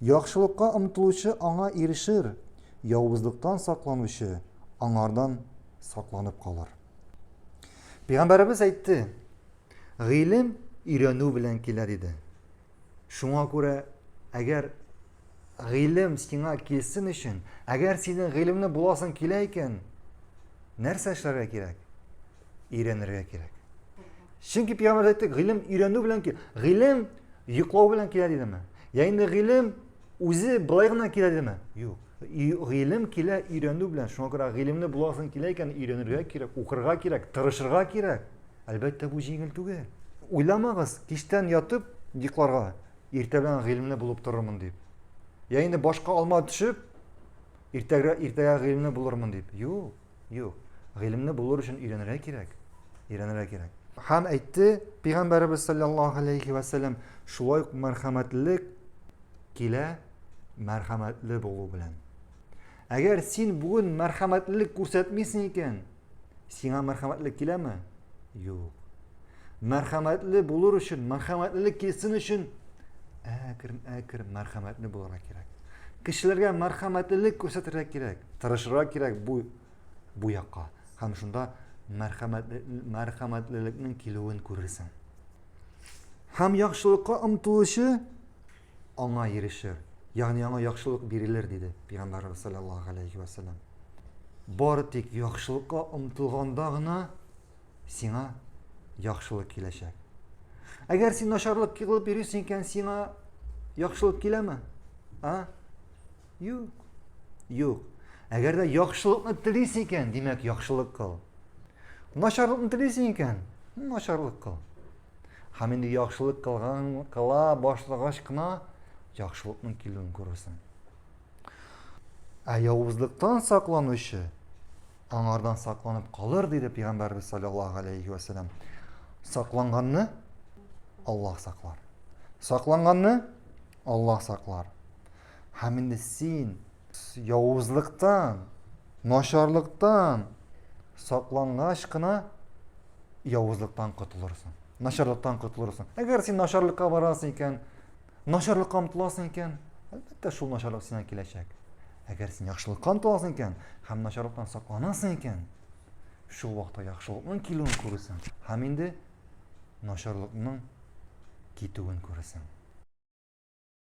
Яхшылыкка омтылучы аңа ирешер, явызлыктан сакланучы аңардан сакланып калыр. Пәйгамбәребез әйтте, гыйлем өйрәнү белән килә диде. Шуңа күрә, әгәр гыйлем сиңа килсен өчен, әгәр синең гыйлемле буласың килә икән, нәрсә эшләргә кирәк? өйрәнергә кирәк. Чөнки пирамида әйтте, гыйлем өйрәнү белән килә. Гыйлем йоклау белән килә дидеме? Я инде гыйлем үзе былай гына килә дидеме? Юк. Гыйлем килә өйрәнү белән. Шуңа күрә гыйлемне буласың килә икән, өйрәнергә кирәк, укырга кирәк, тырышырга кирәк. Әлбәттә, бу җиңел түгел. Уйламагыз, кичтән ятып йокларга, иртә белән гыйлемле булып торырмын дип. Я инде башка алма төшеп, иртәгә иртәгә гыйлемле булырмын дип. Юк. Юк. Гыйлемне булыр өчен өйрәнергә кирәк. Өйрәнергә кирәк. Һәм әйтте, Пәйгамбәребез саллаллаһу алейхи ва саллям, шулай ук мәрхәмәтлелек килә мәрхәмәтле булу белән. Әгәр син бүген мәрхәмәтлелек күрсәтмисең икән, сиңа мәрхәмәтлек киләме? Юк. Мәрхәмәтле булыр өчен, мәрхәмәтлелек килсен өчен әкрен әкрен мәрхәмәтле булырга кирәк. Кешеләргә мәрхәмәтлелек күрсәтергә кирәк, тырышырга кирәк бу бу якка. Һәм шунда мәрхәмәтле мәрхәмәтлелекнең килүен күрерсең. Һәм яхшылыкка омтылучы аңа ирешер. Ягъни аңа яхшылык бирелер диде Пәйгамбәрбез саллаллаһу алейхи ва саллям. Бары тик яхшылыкка омтылганда гына сиңа яхшылык киләчәк. Әгәр син начарлык кылып йөрисең икән, сиңа яхшылык киләме? А? Юк. Юк. Әгәр дә яхшылыкны телисең икән, димәк, яхшылык кыл. Начарлыкны телисең икән, начарлык кыл. Һәм инде яхшылык кылган кыла башлагач кына яхшылыкның килүен күрерсең. Ә явызлыктан сакланучы аңардан сакланып калыр, диде пәйгамбәрбез саллаллаһу алейхи ва сәлләм. Сакланганны Аллаһ саклар. Сакланганны Аллаһ саклар. Һәм инде син явызлыктан, начарлыктан саклангач кына явызлыктан котылырсың. Начарлыктан котылырсың. Әгәр син начарлыкка барасың икән, Начарлыкка омтыласың икән, әлбәттә, шул начарлык сиңа киләчәк. Әгәр син яхшылыкка омтыласың икән һәм начарлыктан сакланасың икән, шул вакытта яхшылыкның килүен күрәсең һәм инде начарлыкның китүен күрәсең.